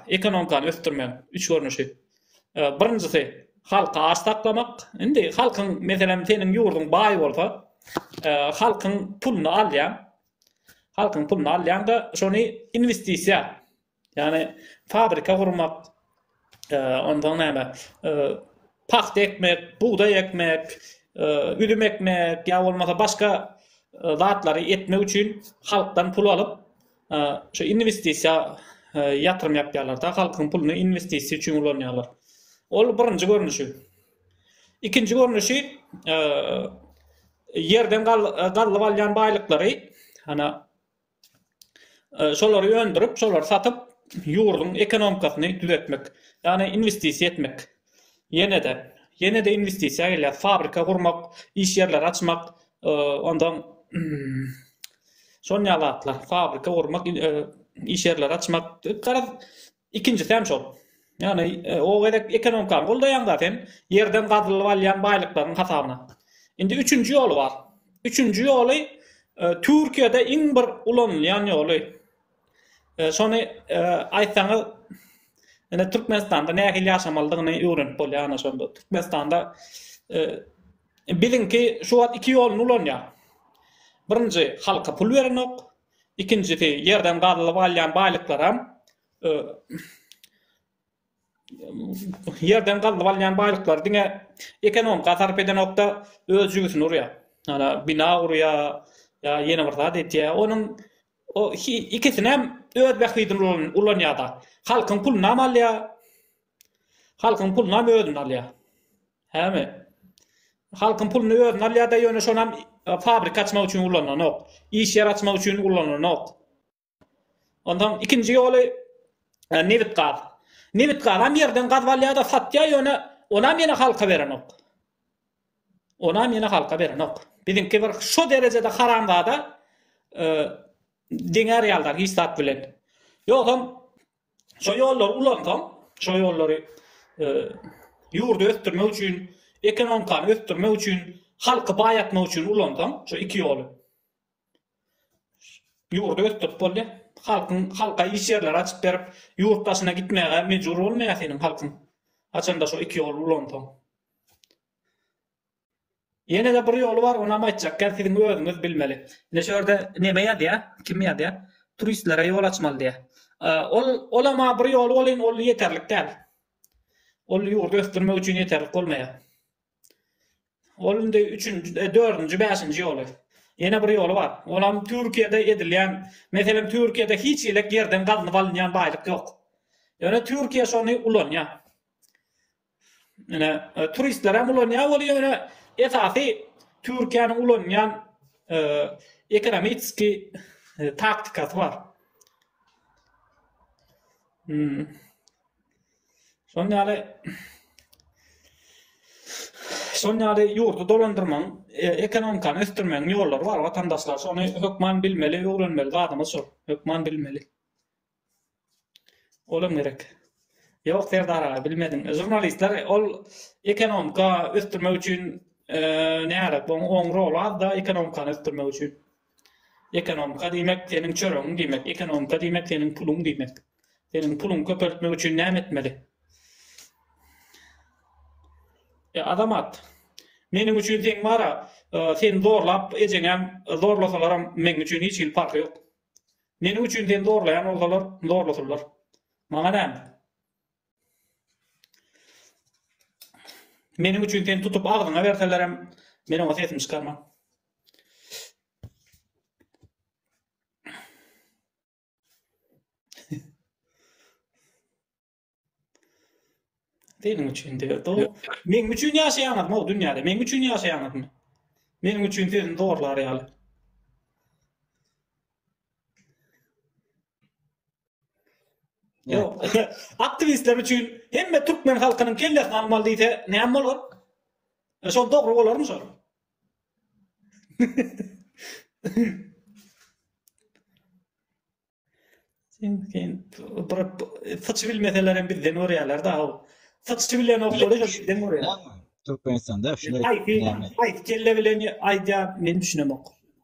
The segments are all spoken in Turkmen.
Ekonomikany ösdürmegiň üç görnüşi. Birinjisi, halky aç saklamak. Indi halkyň, meselem, seniň ýurduň baý bolsa, halkyň puluny alýaň. Halkyň puluny alýaň-da, şony inwestisiýa, ýagny fabrika gurmak, onsoň näme, pagta ekmek, bugdaý ekmek, üzüm ekmek ýa bolmasa başga zatlary etmek üçin halkdan pul alyp, Şu inwestisiýa ýatyrym ýapýarlar-da, halkyň puluny inwestisiýa üçin ulanýarlar. Ol birinji görnüşi. Ikinji görnüşi ýerden gazylyp alýan baýlyklary, ana şolary öndürip, şolary satyp, ýurduň ekonomikasyny düzetmek, ýagny inwestisiýa etmek. Ýene-de, ýene-de inwestisiýa gelýär. Fabrika gurmak, iş ýerleri açmak, ondan şon ýaly zatlar. Fabrika gurmak, iş ýerleri açmak. Garaz, ikinjisi hem şol. Ýagny, o gezek ekonomikany goldaýaň-da sen, ýerden gazylyp alýan baýlyklaryň hasabyna. Indi üçünji ýoly bar. Üçünji ýoly Türkiýede iň bir ulanylýan ýoly. E, şony e, aýtsaňyz ine Türkmenistanda nähili ýaşamalydygyny öwrenip bolýar ana şonda. Türkmenistanda e, biziňki şu wagt iki ýoluny ulanýar. Birinji halka pul berenok, ikinjisi ýerden gazylyp alýan baýlyklaram e, ýerden gazyp alýan baýlyklary diňe ekonomika sarp edenokda öz jübüsini urýar. Ýa bina gurýar, ýa ýene bir zat etýär. Onuň o ikisini hem öz bähbidine ulanýar-da. Halkyň puluny hem alýar. Halkyň puluny hem özüne alýar. Hämi? Halkyň puluny özüne alýar-da, ýöne şonam e, fabrika açmak üçin ulananok. Iş ýer açmak üçin ulananok. Onsoň ikinji ýoly nebit-gaz. Nebit-gazam ýerden gazyp alýar-da, satýar, ýöne onam ýene halka berenok. Onam ýene halka berenok. Biziňki bir şo derejede haramzada deňär ýalylar hiç zat bilen. Ýogsam şo ýollary ulansoň, şo ýollary ýurdy ösdürmek üçin, ekonomikany ösdürmek üçin, halky baýatmak üçin ulansoň, şo iki ýoly. Ýurdy ösdürip bolýar. Halkyň halka iş ýerleri açyp berip, ýurt daşyna gitmäge mejbur bolmaýar seniň halkyň. Haçanda şo iki ýol ulansaň. Ýene-de bir ýoly bar, onam aýtjak gel siziň özüňiz bilmeli. Ine şu ýerde neme ýazýar, kim ýazýar? Turistlere ýol açmaly diýýär. Ol olam-a bir ýoly welin ol ýeterlik däl. Ol ýurdy ösdürmek üçin ýeterlik bolmaýar. Ol indi üçünji, dördünji, bäşinji ýoly. Ýene bir ýoly bar. Olam Türkiýede edilýän, meselem, Türkiýede hiç hili ýerden gazynyp alynýan baýlyk ýok. Ýöne Türkiýe şony ulanýar. Ine, turistler hem ulanýar ol ýöne esasy Türkiýäniň ulanýan ekonomitski taktikasy bar. Şonuň ýaly Şonuň ýaly ýurdy dolandyrmaň, e, ekonomikany ösdürmegiň ýollary bar watandaşlar. Şony hökman bilmeli, öwrenmeli zadymyz şol. Hökman bilmeli. Olam gerek. Ýok Serdar aga bilmediň. Žurnalistler ol ekonomika ösdürmek üçin e, näre, oň rol az da ekonomikany ösdürmek üçin. Ekonomika diýmek seniň çöregiň diýmek, ekonomika diýmek seniň puluň diýmek. Seniň puluňy köpeltmek üçin näme etmeli? E Azamat, meniň üçin seň bar-a, seni zorlap ejeňem zorlasalaram meň üçin hiç hili parhy ýok. Meniň üçin seni zorlaýan bolsalar, zorlasynlar. Maňa näme? Meniň üçin sen tutup agzyňa berselerem, men oňa sesimi çykarman. Seniň üçin diýip, do. Meniň üçin ýaşaýaňyzmy o dünýäde? Meniň üçin ýaşaýaňyzmy? Meniň üçin sözüni zorlar ýaly. Yok. Aktivistler üçin hemme türkmen halkynyň kellesini almaly diýse näme bolar? E, şol dogry bolarmy şol? Sen saçy bilmeseler hem bizden görýärler da. Saçy bilen oklary bizden görýär. Türkmenistanda şular. Aýt, aýt kelle bilen aýdýar, men düşünemok.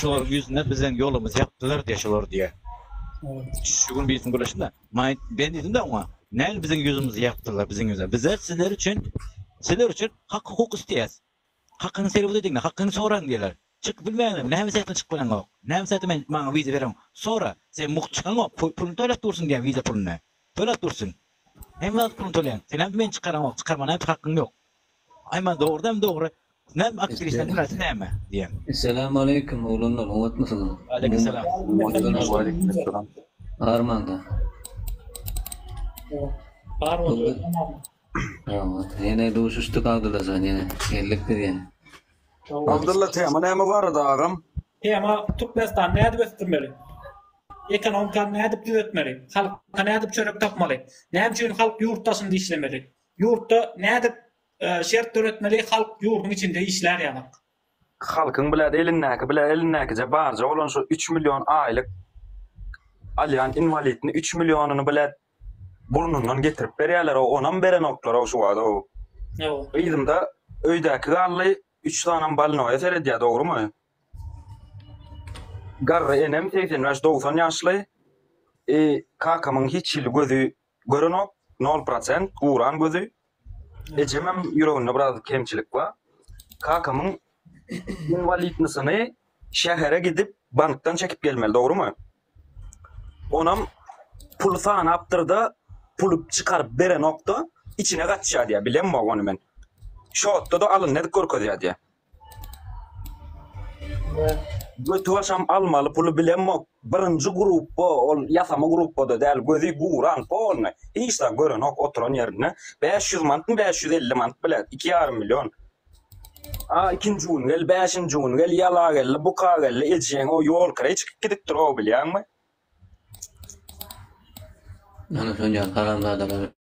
Şolaryň ýüzüne biziň ýolumyzy ýapdylar diýýär şolar diýýär. Şu gün birisi gürleşdi-de. Maňa ben diýdim-de oňa, Näl biziň ýüzümizi ýapdylar biziň ýüze? Bizler sizler üçin sizler üçin hak-hukuk isleýäs. Hakyňy serwet ediň-de, hakyňy soraň diýýärler. Çykyp bilmeýäňmi? Näme sebäpden çykyp bileňok? Näme sebäpden men maňa wiza bereň? Sora. Sen mugt çykaňok, puluny töläp dursun diýýär wiza puluny. Töläp dursun. Hemme zat puluny töleýän. Senem meni çykaraňok, çykarmana hem hakyň ýok. Aý maňa dogrudan hem dogry Näme aktrisaň hünäsi näme diýýän. Esselamu aleýkum oglanlar oňatmysyňyz. Waleýkimselam. Waleýkimselam. Barmanda. Bar bolsun. Ýok, ýene duşuşdyk Abdylla jan ýene geldik biz ýene. Abdylla tema näme barada agam? Tema Türkmenistany nädip ösdürmeli? Ekonomikany nädip düzetmeli? Halka nädip çörek tapmaly? Näme üçin halk ýurt daşynda işlemeli? Ýurtda nädip Şert döretmeli halk ýurduň içinde işlär ýazak. Halkyň bile elindäki bile elindäkije barja bolan şu üç million aýlyk alýan inwalidini üç millionyny bile burnundan getirip berýäler onam berenoklarou şu wagt ow. Gyzymda öýdäki galdy üç sanam balnoýa seredýä dogrymy. Garry enem segsen bäş dogsan ýaşly i kakamyň hiç hili gözi Görenok nol prosent guran gözi ejemem ýüreginde biraz kemçilik bar kakamyň inwalidnisyny şähere gidip bankdan çekip gelmeli dogrymy onam puly sanapdyrda puly çykaryp berenokda içine gaçýa diýýä bilemok ony men şotdada alyndy edip görkezýä diýýä Götibaşam almaly puly bilemok birinji grupba ol ýasama grupbada däl gözi guran polny hiç zat görenok oturan ýerinde bäş ýüz manatmy bäş ýüz elli manat bile iki ýarym million a ikinji gün gel bäşinji gün gel ýala geldi buka geldi ejeň o ýol kireý çykyp gidipdir o bilýäňmi. Ana şonja haramzadalar.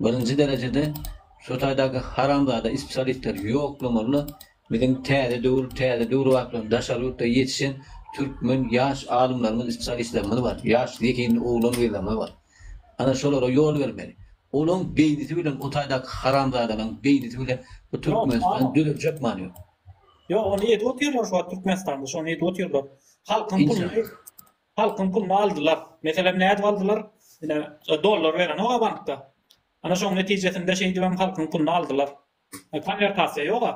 Birinji derejede şu taýdaky haramzada ispsialistler ýoklamalyna biziň täze döwür täze döwür wagtlaryny daşary ýurtda ýetişen türkmen ýaş alymlarymyz ispsialistlerimiz bar ýaş zehinli oglan gyzlarymyz bar ana şolara ýol bermeli olaň beýnisi bilen o taýdaky haramzadalaň beýnisi bilen bu türkmenistan düzeljek many ýok. Ýok ony edip otyrlar şu wagt türkmenistanda şony edip otyrlar halkyň puluny Halkyň puluny aldylar. Meselem nädip aldylar? Ine dollar berenok-a bankda. Ana şoň netijesinde şeýdibem halkyň puluny aldylar. Konwertasiýa ýok-a.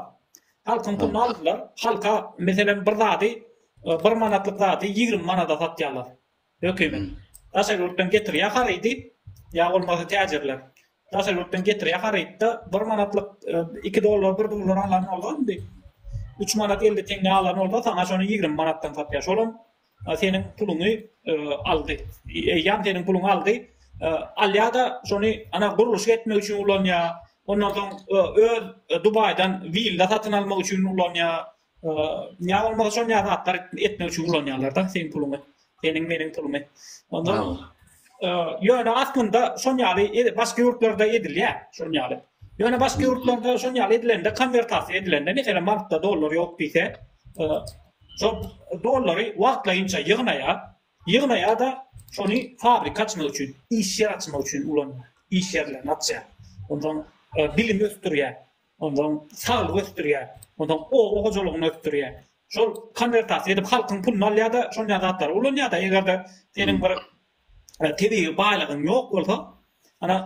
Halkyň puluny aldylar. Halka meselem bir zady bir manatlyk zady ýigrimi manada satýarlar. Hökümet. Daşary ýurtdan getirýär harydy ýa bolmasa täjirler. Daşary ýurtdan getirýär harytda bir manatlyk iki dollar bir dollar alan bolsa indi üç manat elli teňňä alan bolsa saňa şony ýigrimi manatdan satýar. Şolam A seniň puluňy aldy. Eýýäm seniň puluňy aldy. Alýa-da şony ana gurluşyk etmek üçin ulanýar. Ondan soň öz Dubaýdan willa satyn almak üçin ulanýar. Ýa bolmasa şon ýa zatlar etmek üçin ulanýarlar-da seniň puluňy. Seniň meniň pulumy. Onda ýöne aslynda şon ýaly başga ýurtlarda edilýär şon ýaly. Ýöne başga ýurtlarda şon ýaly edilende konwertasiýa edilende meselem bankda dollar ýok diýse Şol dollary wagtlaýynça ýygnaýar, ýygnaýar-da, şony fabrika açmak üçin, iş ýer açmak üçin ulanýar, iş ýerlerini açýar. Onsoň bilimi ösdürýär, onsoň saglygy ösdürýär, onsoň oba hojalygyny ösdürýär. Şol konwertasiýa edip halkyň puluny alýar-da, şonýa zatlary ulanýar-da. Eger-de seniň bir tebigy baýlygyň ýok bolsa, ana,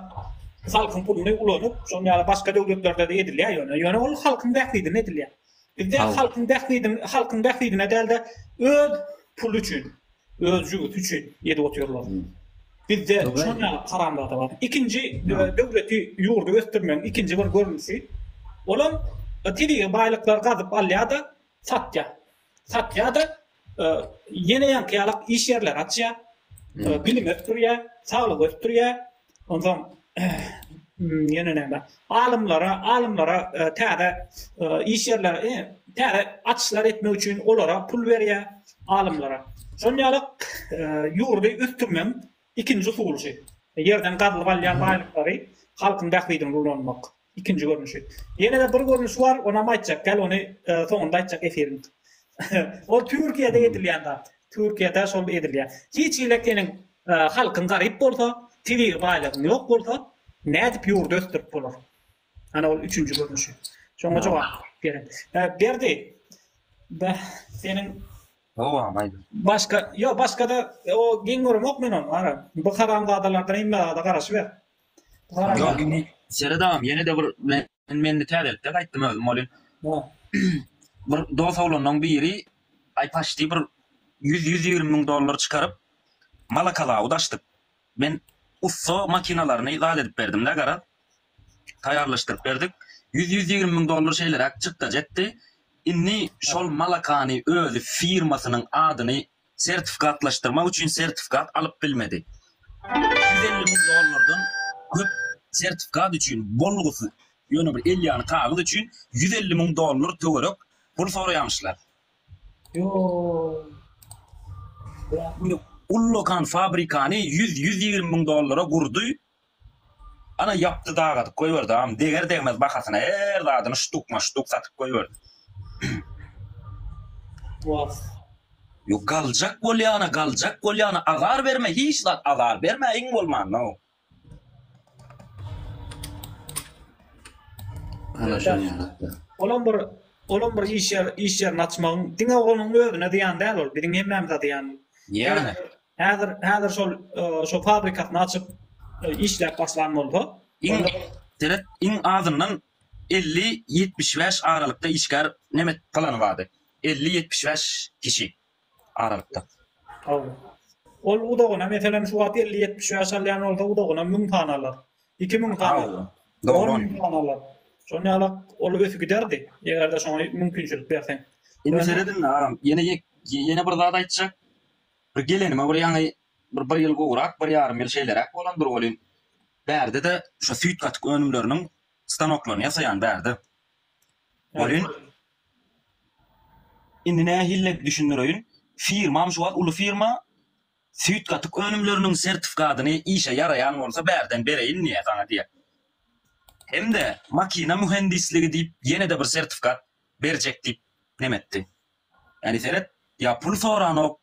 halkyň puluny ulanyp, şonuň ýaly başga döwletlerde-de edilýär ýöne. Ýöne ol halkyň bähbidine edilýär. Bizde halkyň bähbidin, halkyň bähbidine däl-de, öz puly üçin, öz jübüsi üçin edip otyrlar. Bizde şonuň ýaly haramzada bar. Ikinji, döwleti, ýurdy ösdürmegiň ikinji bir görnüşi, olam tebigy baýlyklary gazyp alýar-da, satýar. satýar-da, ýene ýaňky ýalak iş ýerleri açýar, bilimi ösdürýär, saglygy ösdürýär. Onsoň ýene näme? Alymlara, alymlara täze iş ýerleri, täze açyşlar etmek üçin olara pul berýär, alymlara. Şol ýalak ýurdy ösdürmegiň ikinji usuly şu. Ýerden gazylyp alýan baýlyklary halkyň bähbidine ulanmak. Ikinji görnüşi. Ýene-de bir görnüşi bar, onam aýtjak. Gel ony soňunda aýtjak efiriň. Ol Türkiýede edilýän zat. Türkiýede şol edilýär. Hiç hili seniň halkyň garyp bolsa, tebigy baýlygyň ýok bolsa, nädip ýurdy ösdürip bolar? Ana ol üçünji görnüşi. Şoňa jogap beren. Berdi, seniň Dowam aýt. Başga, ýok, başga-da o geň göremok men ony. Ara, bu haramzadalardan hemmezada garaşyber. Ýöne Seret agam ýene de bir men men täzelikde gaýtdym özüm welin. Bir dos oglanlaň biri aý paşti bir ýüz ýüz ýigrimi müň dollar çykaryp malakazawod açdyk. Men ussa makinalaryny zat edip berdimdä garaz. Taýýarlaşdyryp berdik. Ýüz ýüz ýigrimi müň dollar şeýleräk çykdajy etdi. Indi şol malakany özi firmasynyň adyny sertifikatlaşdyrmak üçin sertifikat alyp bilmedi. Üç ýüz elli müň dollardan köp sertifikat üçin bolgusyz, ýöne bir el ýaly kagyz üçin ýüz elli müň dollar töwerek pul soraýamyşlar. Ullakan fabrikany ýüz, ýüz ýigrimi müň dollara gurdy, Ana ýapdy dagadyp goýberdi agam deger degmez bahasyna her zadyny ştuk ma ştuk satyp goýberdi. Wah. Ýok galjak bolýana galjak bolýana azar berme hiç zat azar berme iň bolmanda. Ana şo ýaratdy. Olam bir olam bir iş ýer iş ýerini açmagyň diňe onuň özüne zyýan däl ol biziň hemmämize zyýan. Ýagny. Häzir häzir şol şo fabrikasyny açyp işläp başlan bolsa, iň seret iň azyndan elli ýetmiş bäş aralykda işgär nemet plany bardy. Elli ýetmiş bäş kişi aralykda. Hawa. Ol udagyna meselem şu wagt elli ýetmiş bäş alýan bolsa udagyna müň sany alar. Iki müň sany alar. Dogry on müň sany alar. Şony alak ol ösüp giderdi. Egerde şoňa mümkinçilik berseň. Indi seredin aram ýene ýene bir zat aýtjak. Bir gelenime bir ýaňy bir bir ýyl gowrak, bir ýarym ýyl şeýleräk bolandyr welin, bärde-de şu süýt gatyk önümleriniň stanoklaryny ýasaýan bärde. Welin, indi nähili-de düşündireýin, firmam şu wagt uly firma, süýt gatyk önümleriniň sertifikadyny işe ýaraýan bolsa bärden bereýin diýýär saňa diýýär. Hem-de makina mühendisligi diýip ýene-de bir sertifikat berjek diýip nemetdi. Äri seret ýa pul soranok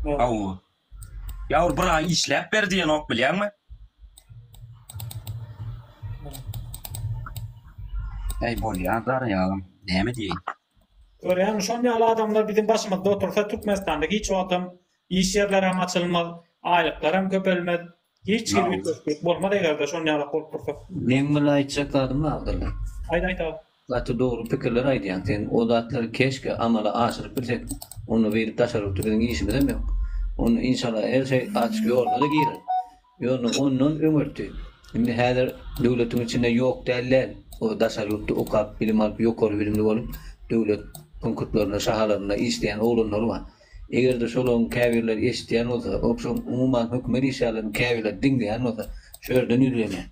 haw ýa ol bir aý işläp ber diýenok bilýäňmi. Äý bolýa zar ýalam näme diýeýin. Görýäňmi şon ýaly adamlar biziň başymyzda otursa Türkmenistanda hiç wagtam iş ýerlerem açylmaz, aýlyklaram köpelmez, Hiç hili üýtgeşiklik bolmaz eger-de şon ýalak bolup dursa. Meň muny aýtjak zadym bar Abdylla. Aýt aýt aga. Gaty dogry pikirler aýdýaň sen o zatlary keşke amala aşyryp bilsek onda beýdip daşary ýurtda biziň işimizem ýok onda inşallah her şeý açyk ýoluna-da girer ýöne ondan öňürti indi häzir döwletiň içinde ýok däl däl o daşary ýurtda okap bilim alyp ýokary bilimli bolup döwlet punktlarynda şahalarynda işleýän oglanlar bar. Eger-de şolaryň käbirleri eşidýän bolsa, ogşam, umuman, hökümet işgärleriniň käbirleri diňleýän bolsa, şu ýerden ýüzlenýän.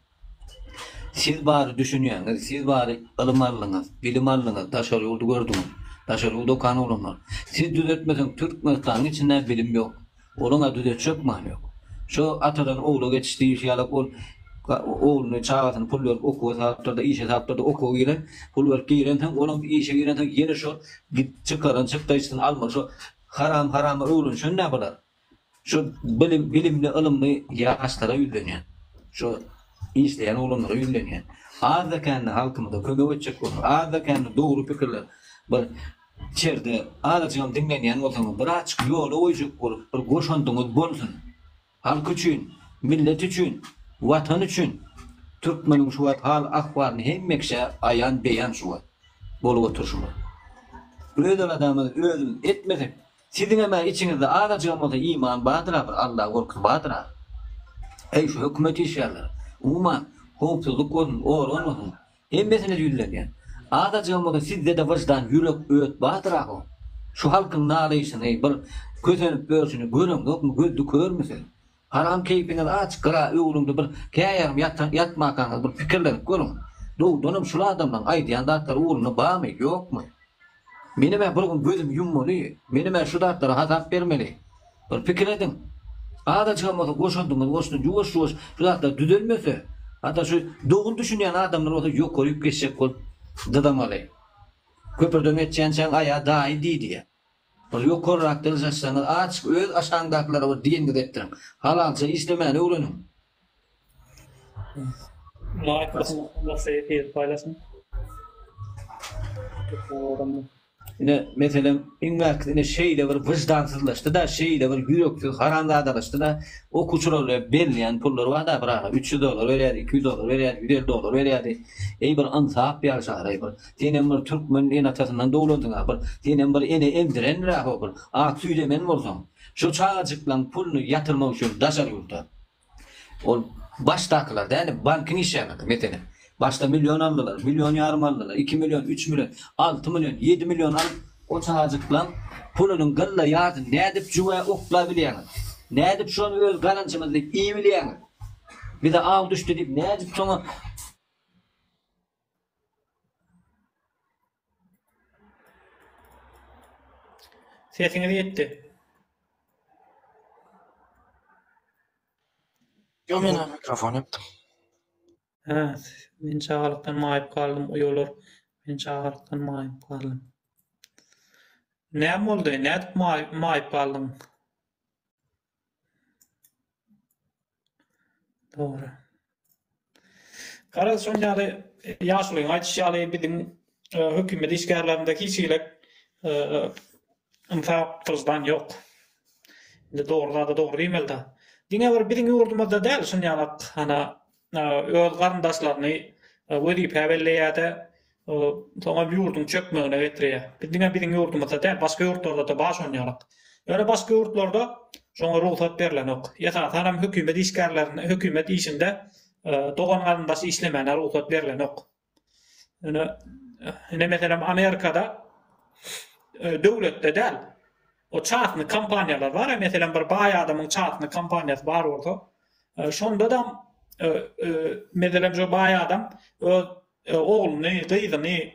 Siz bary düşünýäňiz, siz bary ylym aldyňyz, bilim aldyňyz, daşary ýurdy gördüňiz, daşary ýurda okan oglanlar. Siz düzetmeseň, Türkmenistanyň içinde-ä bilim ýok. Onuň-a düzetjek many ýok. Şu atadan ogla geçiş diýilişi ýaly, ol ogluny, çagasyny pul berip okuwa salypdyr-da, işe salypdyr-da, okuwa giren, pul berip girensoň, olam işe girensoň, ýene şol Git çykaran çykdaýyşyny alma şo haram harama öwrenişen nä bular şo bilim bilimli ylymly ýaşlara ýüzlenýän şo işleýän oglanlara ýüzlenýän azda kände halkymyza kömek etjek bolan azda kände dogry pikirler bir içerde azajygam diňlenýän bolsaňyz bir açyk ýola goýjak bolup bir goşandyňyz bolsun Halk üçin, millet üçin, Watan üçin! Türkmeniň şu wagt hal-ahwalyny hemmekiçe aýan-beýan şu wagt bolup oturşymyz. Öz aladamyzy özümiz etmesek, siziňem-ä içiňizde azajygam bolsa iman bardyr-a, bir Alla gorkusy bardyr-a. Heý, şu hökümet işgärleri, umuman, howpsuzlyk bolsun, organ bolsun, Hemmesine ýüzlenýän. Azajygymyzy sizde-de wyždan, ýürek, öt bardyrak oň. Şu halkyň nalaýşyny, bir kösenip örşüni göreňzokmy, gözdi körmi siz? Haram keýpiňiz aç, gyra öwrüldi bir käýarym ýatan ýatmakaňyz bir pikirlenip görüň. Dowdanam şul adamlaň aýdýan zatlary ugruna bamy, ýokmy? Menem-ä bir gün gözümi ýummaly, menem-ä şu zatlara hasap bermeli. Bir pikir ediň. Azajygam bolsa goşandyňyzy goşduň, ýuwaş-ýuwaş şu zatlar düzelmese, hatda şu dogry düşünýän adamlar bolsa ýokaryp geçjek bolup dyzamaly. Köprüden geçýänçäň aýa daýy diý diýýä. Bir ýokarrak dyzjaşsaňyz, aç öz aşaňdakylara bir diýeniňizi etdiriň. Halalça işlemäni öwreniň. Laýk basyň onda sehedi paýlaşyň. Ine meselem iň bärkisi ine şeýle bir wyždansyzlaşdyda şeýle bir ýüreksiz haramzadalaşdyda okuwçylara berilýän pullar barda bir ara üç ýüz dollar berýärdi iki ýüz dollar berýärdi ýüz elli dollar berýärdi eý bir ynsap ýaşar eý bir senem bir türkmen ene atasyndan doglandyňa bir senem bir ene emdirendiräho bir at süýt emen bolsaň. Şu çagajyklaň puluny ýatyrmak üçin daşary ýurda, ol başdakylar däl-de, bankyň işýärlerdi, meselem, başda million aldylar, million ýarym aldylar, iki million, üç million, alty million, ýedi million alyp, o çagajyklaň pulunyň gylla ýarsyny nädip jüwä oklap bilýäňiz? Nädip şony öz gazanjymyz diýip iýip bilýäňiz? Bize aw düşdi diýip nädip şoňa. Sesiňiz gitdi. Ýok men ony mikrofon ýapdym. Hä, men çagalykdan maýyp galdym, uýalar, men çagalykdan maýyp galdym. Näme boldy, nädip maýyp galdyň? Dogry. Garaz şon ýaly ýaşulyň aýdyşy ýaly biziň e, hökümet işgärlerinde hiç hili e, ynsap gylyjdan ýok. Indi dogry zada dogry diýmeli-de. Diňe bir biziň ýurdumyzda däl şon ýalak ana e, öz garyndaşlaryny e, wezipä belleýärde Bu soňam ýurduň çökmegine getirýär. Biz diňe biziň ýurdumyzda däl, başga ýurtlarda-da baş onýarak. Ýöne başga ýurtlarda şoňa rugsat berlenok. Esasanam hökümet işgärlerine, hökümet işinde dogan-garyndaş işlemäne rugsat berlenok. Ýöne, ine, meselem, Amerikada döwletde däl, o çastny kompaniýalar bar-a, meselem, bir baý adamyň çastny kompaniýasy bar bolsa, şonda-da, meselem, şo baý adam öz ogluny, gyzyny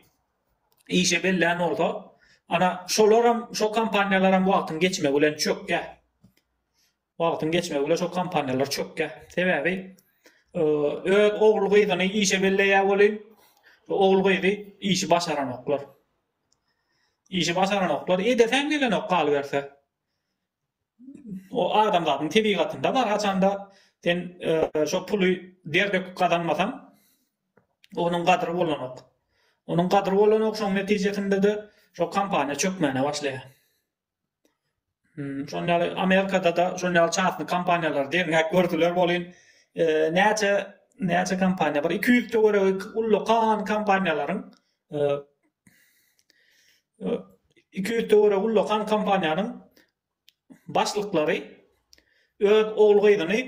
işe bellän bolsa, ana, şolaram, şo kompaniýalaram wagtyň geçmegi bilen çökýär. Wagtyň geçmegi bilen şo kompaniýalar çökýär. Sebäbi öz ogul-gyzyny işe belleýär welin, ogul-gyzy işi başaranoklar. Işi başaranoklar, edeseň gelenok galyberse. O adamzadyň tebigatynda bar haçanda sen şo puly der döküp gazanmasaň onuň gadyry bolanok. Onuň gadyry bolanok şoň netijesinde-de şo kompaniýa çökmäne başlaýar. Şon ýaly Amerikada-da şon ýaly çasny kompaniýalar derňäk gördüler bolin näçe näçe kompaniýa bir iki ýüz töweregi ullakan kompaniýalaryň Iki ýüz töweregi ullakan kompaniýanyň başlyklary öz ogul-gyzyny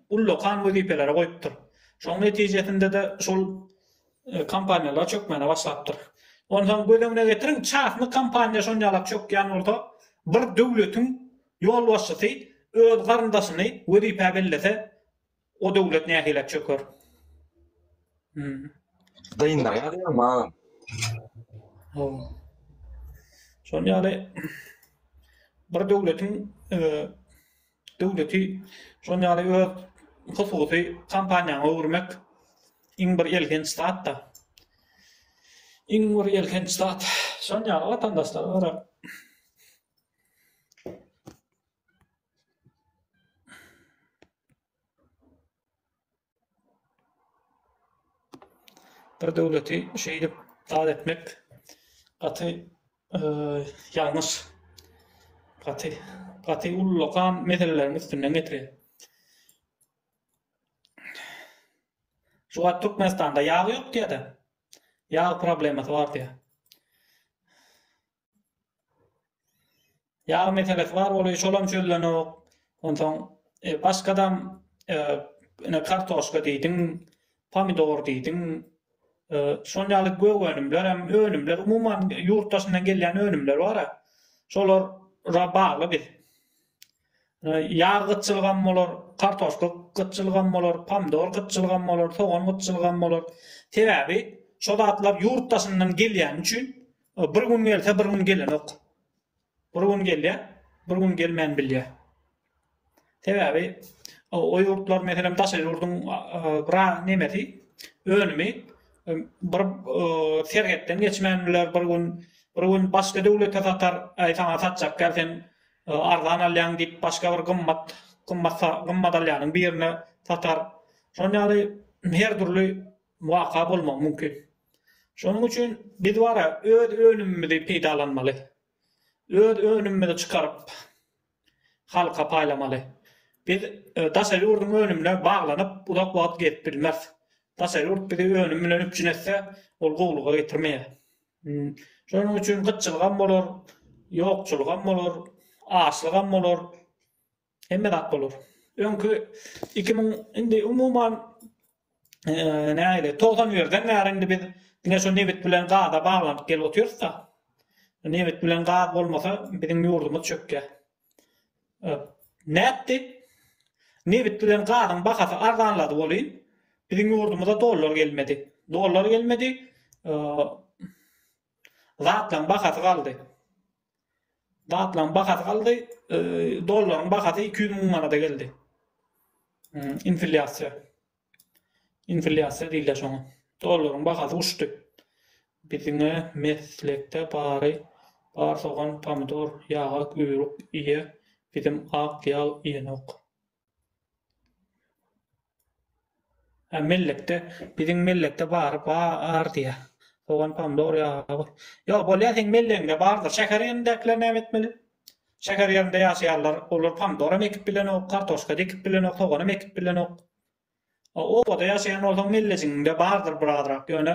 ullakan wezipelere goýupdyr. Şonuň netijesinde-de şol kompaniýalar çökmäne başlapdyr. Onsoň göz öňüne getiriň, çasny kompaniýa şonýalak çökýän bolsa, bir döwletiň ýolbaşçysy öz garyndaşyny wezipä bellese, O döwlet nähilä çöker? Gyýyndyr ýa diýýän maňam. Ho. Şonuň ýaly bir döwletiň döwleti şonuň ýaly öz hususy kompaniýany öwürmek iň bir elhenç zat-da. Iň bir elhenç zat. Şonuň ýaly watandaşlar görä. bir döwleti şeýdip dar etmek gaty e, ýalňyş, gaty gaty ullakan meseleleriň üstünden geçýär. Şu wagt Türkmenistanda ýag ýok diýýär-de. Ýag problemasy bar diýýär. Ýag meselesi bar bolup, şolam çözlenok. Onsoň e, başgadam e, ine kartoşka diýdiň, pomidor diýdiň. E, şol ýaly gök önümler hem önümler umuman ýurt daşyndan gelýän önümler bar. Şolara bagly biz. E, ýag gytçylygy hem bolar, kartoşka gytçylygy hem bolar, pomidor gytçylygy hem bolar, sogan gytçylygy hem bolar. Sebäbi şol zatlar ýurt daşyndan gelýäni üçin Bir gün gelse, bir gün gelenok. Bir gün gelýär, bir gün gelmän bilýär. Sebäbi o ýurtlar, meselem, daşary ýurduň biraz nemesi, önümi bir serhetden geçmän biler, bir gün, bir gün başga döwlete satar, aý saňa satjak däl, sen arzan alýaň diýip, başga bir gymmat, gymmat, gymmat alýanyň birine satar. Şonuň ýaly her dürli waka bolmagy mümkin. Şonuň üçin biz wara öz önümimizi peýdalanmaly. Öz önümimizi çykaryp, halka paýlamaly. Biz daşary ýurduň önümine baglanyp, uzak wagt gezip bilmeris. Daşary ýurt bizi önüm bilen üpjün etse, ol gowulyga getirmeýär. Şonuň üçin gytçylygam bolar, ýokçulygam bolar, açlygam bolar. Hemme zat bolar. Öňki 2000 indi umuman näle 91-den bäri indi biz diňe şu nebit bilen gaza baglanyp gelip otyrys-da. Nebit bilen gaz bolmasa biziň ýurdumyz çökýär. Nätdi? Nebit bilen gazyň bahasy arzanlady welin, biziň ýurdumyza dollar gelmedi. Dollar gelmedi, zatlaryň bahasy galdy. Zatlaryň bahasy galdy, e, dollaryň bahasy 200 müň manada geldi. Hmm, inflýasiýa. Inflýasiýa diýilýär şoňa. Dollaryň bahasy uçdy. Biziňe meslekde bary bar sogan, pomidor, ýagak, üýrük iýe, biziň ak ýal iýenok. Hä mellekde biziň mellekde bary bar diýýä. Sogan pomidor ýagy. Ýok bolýa seň mellegiňde bardyr. Şäher ýerindäkiler näme etmeli? Şäher ýerinde ýaşaýanlar olar pomidor hem ekip bilenok, kartoşka dikip bilenok, soganam ekip bilenok. A obada ýaşaýan bolsaň mellejigiňde bardyr birazrak ýöne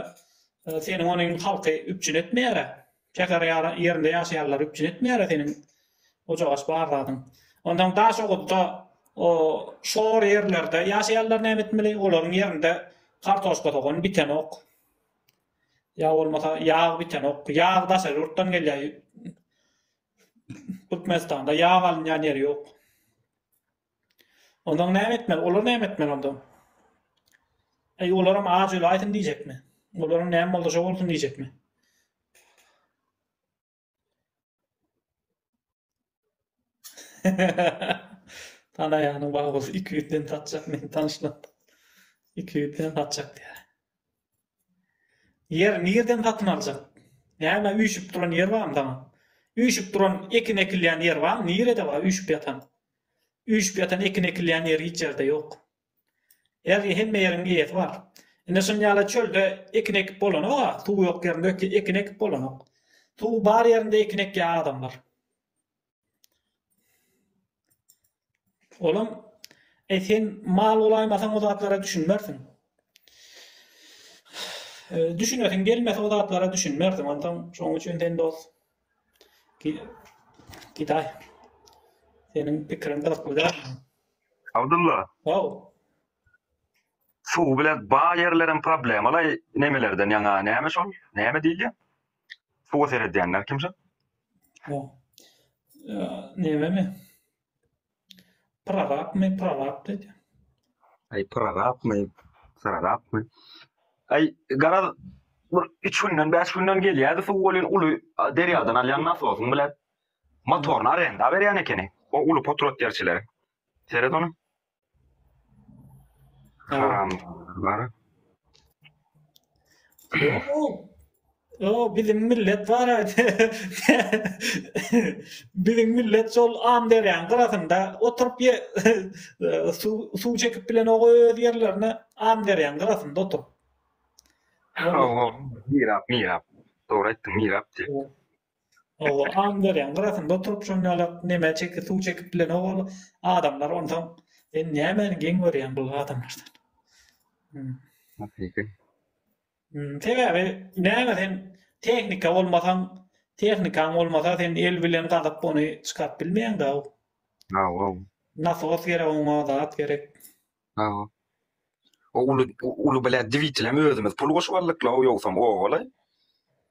seniň ony indi halky üpjün etmeýärä. Şäher ýerinde ýaşaýanlar üpjün etmeýärä seniň ojagaş bar zadyň. Ondan Daşoguzda o şor ýerlerde ýaşaýanlar näme etmeli? Olaryň ýerinde kartoşka sogan bitenok. Ýa bolmasa ýag bitenok. Ýag daşary ýurtdan gelýär. Türkmenistanda ýag alynýan ýeri ýok. Ondan näme etmeli? Olar näme etmeli onda? Eý, olaram aç öli aýsyn diýjekmi? Olaram näme boldy şo bolsun diýjekmi? Tanaýanyň bar bolsun, iki ýüzden satjak men tanyşlap. Iki ýüzden satjak diýýär. Ýer nirden satyn aljak? Näme üýşüp duran ýer barmy saňa? Üýşüp duran ekin ekilýän ýer barmy? Nirede bar üýşüp ýatan? Üýşüp ýatan ekin ekilýän ýer hiç ýerde ýok. Her hemme ýeriň eýesi bar. Ine şuny ýaly çölde ekin ekip bolanok-a, suw ýok ýerinde ekin ekip bolanok. Suw bar ýerinde ekin ekýän adamlar. Olam, Eý, sen mal bolaýmasaň o zatlara düşünmersiň. Düşünesiň gelmese o zatlara düşünmersiň. Onsoň şonuň üçin sen dos gidaý. Seniň pikiriň gyzykly dälmi? Abdulla. How. Suw bilen baý ýerlerem problemaly nemelerden ýaňa näme şol? Näme diýilýär? Suwa seredýänler kimşa? Bu. Neme mi? Prorap mi? Prorap dedi. Ay prorap mi? Prorap mi? Ay garaz bir üç günden, beş günden gelýärdi suw bolýan uly derýadan alýan nasosyň bilen motoryny arenda berýän ekeni. O uly potrot derçileri. Seret onu. Haramlar. O biziň millet bar aýdy. biziň millet şol am derýaň gyrasynda oturyp ye suw suw çekip bilen o öz ýerlerine am derýaň gyrasynda oturyp. Mirap, mirap. Dogry aýtdyň, mirap diýip. Oba Amberýaň gyrasynda oturyp şon ýalak neme çekip suw çekip bilen owal adamlar onsoň sen nämäni geň görýäň bu adamlardan. Hmm. Hakyky. Hmm, sebäbi näme sen tehnika bolmasaň tehnikaň bolmasa sen el bilen gazyp ony çykaryp bilmeýäň da. Hawa. Nasos gerek oňa zat gerek. Hawa. O uly uly bilet dwitelem özümiz pul goşup aldyk la o ýogsam owaly.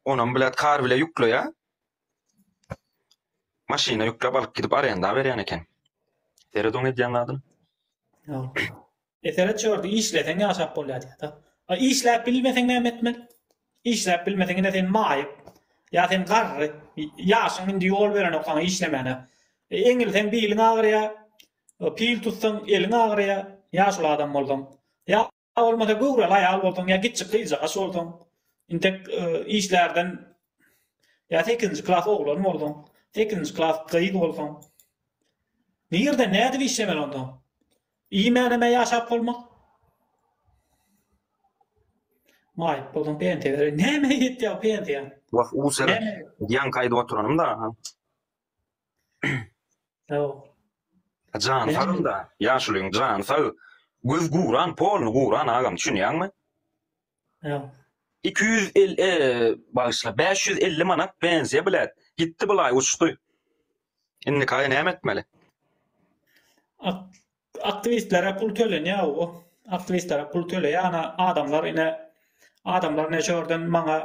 Onam bilet kar bile ýükleýär. Maşyna ýüklep alyp gidip arenda berýän eken. Seret oň edýän zadyny. Ýok. Eseret şördi işleseň ýaşap bolýar diýýärda. A işläp bilmeseň näme etmeli? Işläp bilmeseň ine sen maýyp. Ýa sen garry. Ýaşyň indi ýol berenok saňa işlemäne. Eňilseň biliň agyrýar. Pil tutsaň, eliň agyraýar, ýaşuly adam bolsaň. Ýa bolmasa göwreli aýal bolsaň, ýa kiçi gyzjagaç bolsaň, intek işlärden, ýa sekizinji klas oglan bolsaň, sekizinji klas gyz bolsaň. Nirde, nädip işlemeli onda? Iýmänemä ýaşap bolmaz. Maýyp bolsaň pensiýa berer. Nämä ýetýär pensiýa? Wah, u seret, ýaňky aýdyp oturanymda. Sag bol. Jany sagynda, ýaşulyň jany sag. Göz guran, polny guran agam düşünýäňmi? Ýa. Iki ýüz el e, bagyşla, bäş ýüz elli manat benziýa bilet. Gitdi bulaý uçdy. Indikaý näme etmeli? Ak Aktiwistlere pul tölenýär o aktiwistlere pul töleýär ana adamlar ine adamlar ne şordan maňa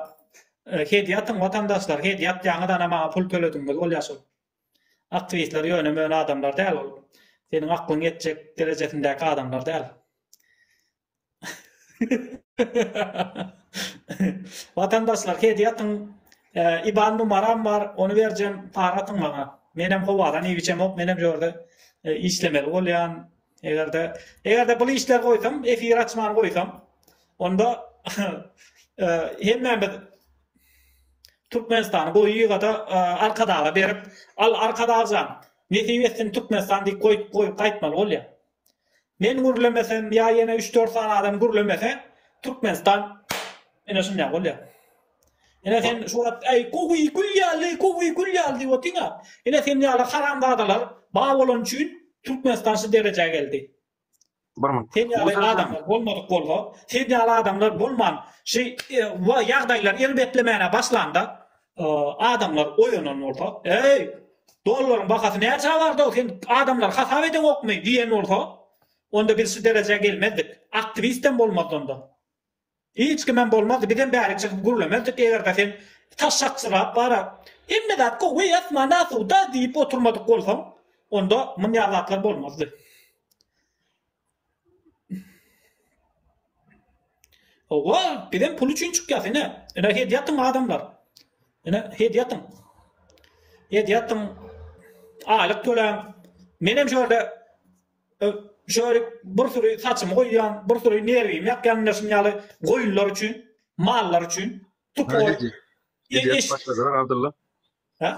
e, hediýe atyň watandaşlar hediýe atýaňyz ana maňa pul tölediňiz ol ýaşul aktiwistler ýöne möne adamlar däl ol seniň aklyň ýetjek derejesindäki adamlar däl Watandaşlar hediýe atyň. IBAN numaram bar, ony berjem, para atyň maňa. Menem howadan iý biçemok, menem şu ýerde işlemeli bolýan. Eger-de, eger-de bul işleri goýsam, efir açman goýsam, onda hemmämiz Türkmenistany goýy ýygada Arkadaga berip, al Arkadagjan, nesip etsin Türkmenistan diýip goýup goýup gaýtmaly bolýar. Men gürlemesem ýa ýene üç dört sany adam gürlemese Türkmenistan ine şundak bolýar. Ine sen şu wagt aý gowy gül ýaly gowy gül ýaly diýip otyňa. Ine sen ýaly haramzadalar bar bolany üçin Türkmenistan şu derejä geldi. Sen ýaly adamlar bolmadyk bolsa, sen ýaly adamlar bolman şu ýagdaýlar erbetlemäne başlanda Adamlar oýanan bolsa, Eý, dollaryň bahasy näçä bardy-ow, sen adamlary hasap edeňokmy? diýen bolsa, onda biz şu derejä gelmezdik. Aktiwistem bolmazdy onda. Hiç kimem bolmazdy. Bizem bärik çykyp gürlemezdik, eger-de sen taşakçyrap bara, Hemme zat gowy, asman asuda diýip oturmadyk bolsaň, onda munýa zatlar bolmazdy. Howwa bizem pul üçin çykýas ine ine hedýatyň adamlar ine hedýatyň hedýatyň aýlyk töläň menem şöyle şöyle bir süri saçymy goýýan bir süri nerwimi ýakýan ine şuny ýaly goýunlar üçin mallar üçin tupy goýup Ha?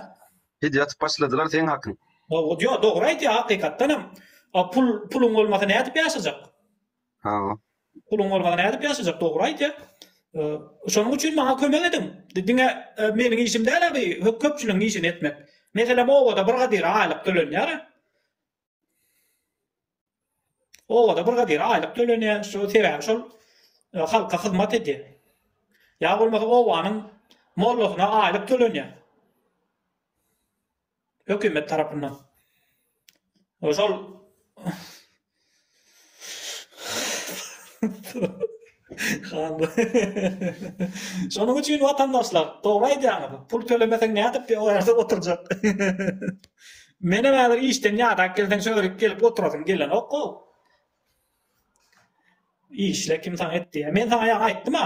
Hidi atyp başladylar seň hakyň. Ýok, ýok, dogry aýtýar hakykatdan hem. A pul puluň bolmasa nädip ýaşajak? Ha. Puluň bolmasa nädip ýaşajak? Dogry aýtýar. Şonuň üçin maňa kömek ediň. Diňe e, meniň işim däl abi, köpçüligiň işini etmek. Meselem, obada bir gadyr aýlyk tölenýär. Obada brigadire aýlyk tölenýär, şo sebäbi şol e, halka hyzmat edýär. Ýa bolmasa obanyň mollasyna aýlyk tölenýär. Hökümet tarapyndan. Şol Şonuň üçin watandaşlar, dogry aýdýaňyz, pul tölemeseň nädip o ýerde oturjak. Menem häzir işden ýadap gelseň şörik gelip oturasym gelenok gow. Işle kim saňa et diýýä. Men saňa ýa aýtdym-a,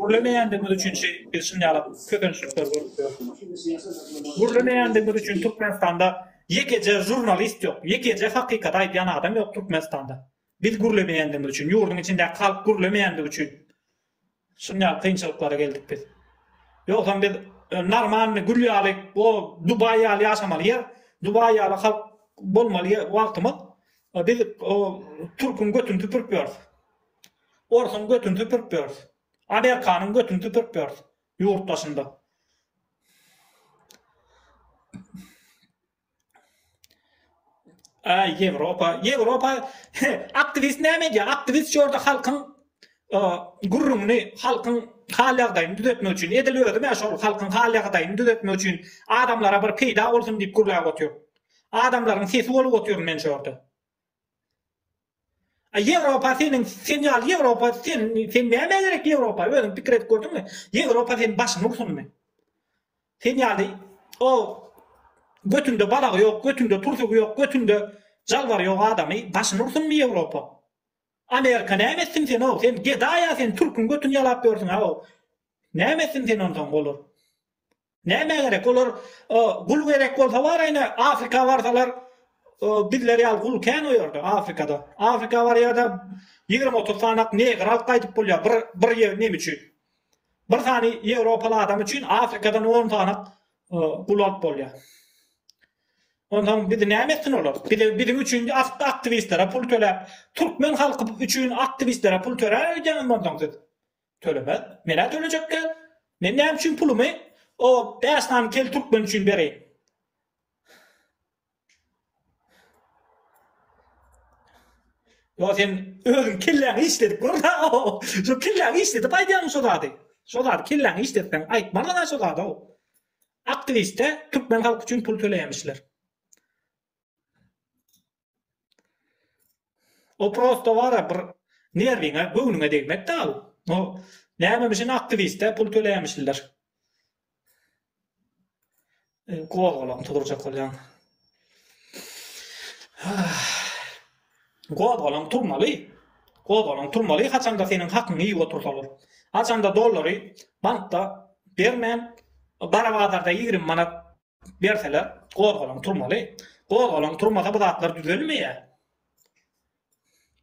Gürlemeýändigimiz üçin şi biz şinjalak kösençlikler görüp ýörüs. Gürlemeýändigimiz üçin Türkmenistanda ýekeje žurnalist ýok, ýekeje hakykaty aýdýan adam ýok Türkmenistanda. Biz gürlemeýändigimiz üçin, ýurduň içindäki halk gürlemeýändigi üçin şinjalak kynçylyklara geldik biz. Ýogsam biz normalny gül ýaly o Dubaý ýaly ýaşamaly ýer, Dubaý ýaly halk bolmaly ýer wagtymyz. Biz o türküň götüni süpürip ýörüs. Orsuň götün süpürip ýörüs. Amerikanyň götün süpürip ýörüs ýurt daşynda. Aý Ýewropa, Ýewropa aktiwist näme edýär? Aktiwist şu ýerde halkyň gürrüňini, halkyň hal ýagdaýyny düzetmek üçin, edil özüm ä şol halkyň hal ýagdaýyny düzetmek üçin adamlara bir peýda bolsun diýip gürläp otyr. Adamlaryň sesi bolup otyryn men şu ýerde. A Ýewropa seniň sen ýaly Ýewropa sen sen näme gerek Ýewropa özüň pikir edip gördüňmi? Ýewropa seni başyňy ursunmy? Sen ýaly o götünde balagy ýok, götünde tursugy ýok, götünde jalbar ýok adamy başyny ursunmy Ýewropa? Amerika näme etsin sen o? Sen gedaýa sen türküň götüni ýalap ýörsüň ha o. Näme etsin sen ondan golar? Nämä gerek olar gul gerek bolsa bar ene afrika barsalar bizler ýaly gul kän o ýerde afrikada afrika barýada ýigrimi otuz sanak negr alyp gaýdyp bolýa bir bir ýer neme üçin bir sany ýewropaly adam üçin afrikadan on sanak gul alyp bolýa Ondan bizi näme etsin olar? Bizi biziň üçin aktivistlere pul töläp, türkmen halky üçin aktivistlere pul töläp öýdýäňiz ondan siz. Tölemez. Men-ä tölejekkä. Men näme üçin pulumy o bäş sany kel türkmen üçin bereýin? Ýa sen özüň kelläňi işledip görme. Şu kelläňi işledip aýdýaň şu zady. Şu zady kelläňi işletseň aýtmalyň şu zady. Aktiwiste türkmen halky üçin pul töleýämişler. O prosto bara bir nerwiňe, göwnüňe degmek da bu. O nämemişin aktiwiste pul töleýämişler. Gozgalaň turdurjak bolýan. Gozgalaň turmaly. Gozgalaň turmaly, haçanda seniň hakyňy iýip otursalar. Haçanda dollary bankda bermän, gara bazarda 20 manat Berseler gozgalaň turmaly. Gozgalaň turmasa bu zatlar düzelmeýär.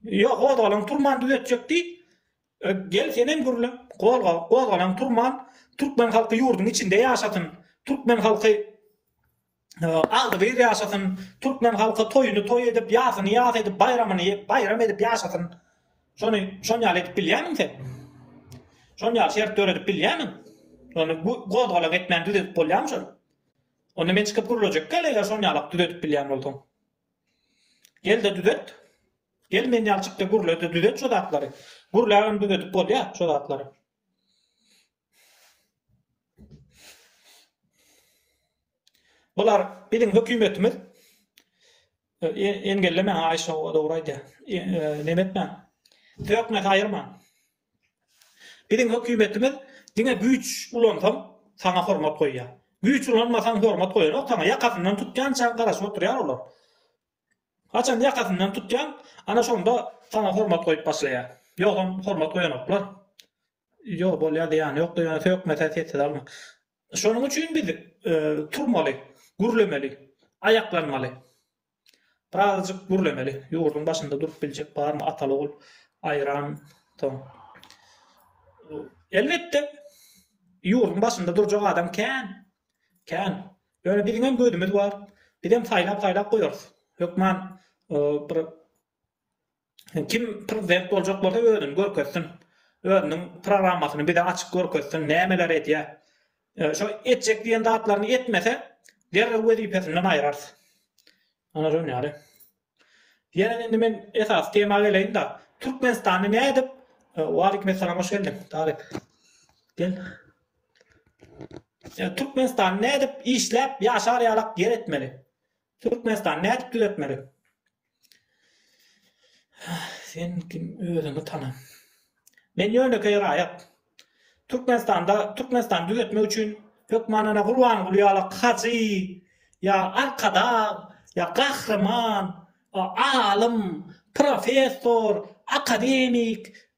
Ýok, gozgalaň turman düzetjek diý. E, gel sen hem gürle. Gozga, gozgalaň turman türkmen halky ýurduň içinde ýaşasyn. Türkmen halky e, agdygyr ýaşasyn. Türkmen halky toýuny toý edip, ýasyny ýas edip, baýramyny baýram edip ýaşasyn. Şony şon ýaly edip bilýärmiň sen? Şon ýaly şert döredip bilýärmiň? Ony bu gozgalaň etmän düzedip bolýarmy şony? Onda men çykyp gürlejek gel eger şon ýalak düzedip bilýän bolsaň. Gel de düzet. Gel men ýalçykda gürle de düzet şu zatlary. Gürlägem düzedip bolýar şu zatlary. Bular biziň hökümetimiz engellemäň Aýşa dogry aýdýar neme etmäň sökmäň saýyrmaň biziň hökümetimiz diňe güýç ulansaň saňa hormat goýýar güýç ulanmasaň hormat goýanok saňa ýakasyndan tutýançaň garaşyp oturýar olar haçan ýakasyndan tutýaň ana şonda saňa hormat goýup başlaýar ýogsam hormat goýanoklar Ýok bolýa zyýany ýokdur ýöne sökmese sessiz almak. Şonuň üçin biz turmaly, gürlemeli, aýaklanmaly. Birazajyk gürlemeli. Ýurduň başynda durup biljek barmy atal ogul aýran soň. Elbetde ýurduň başynda durjak adam kän. Kän. Ýöne biziň hem gözümiz bar. Bizem saýlap saýlap goýarys. Hökman bir Kim prezident boljak bolsa özüni görkezsin. Özüniň programmasyny bize açyp görkezsin, nämeler edýär. Şo etjek diýen zatlaryny etmese, derrew wezipesinden aýyrarys. Ana şon ýaly. Ýene indi men esasy tema geleýin-de, Türkmenistanda nädip Waleýkim essalam hoş geldiň, Talyp. Gel. Türkmenistan nädip işläp ýaşar ýalak ýer etmeli? Türkmenistan nädip düzeltmeli? Sen kim özüňi tana. Men ýönekeý raýat. Türkmenistanda Türkmenistan düzeltmek üçin hökman ana Gurbanguly ýaly hajy ýa arkadag ýa gahryman, alym, professor, akademik,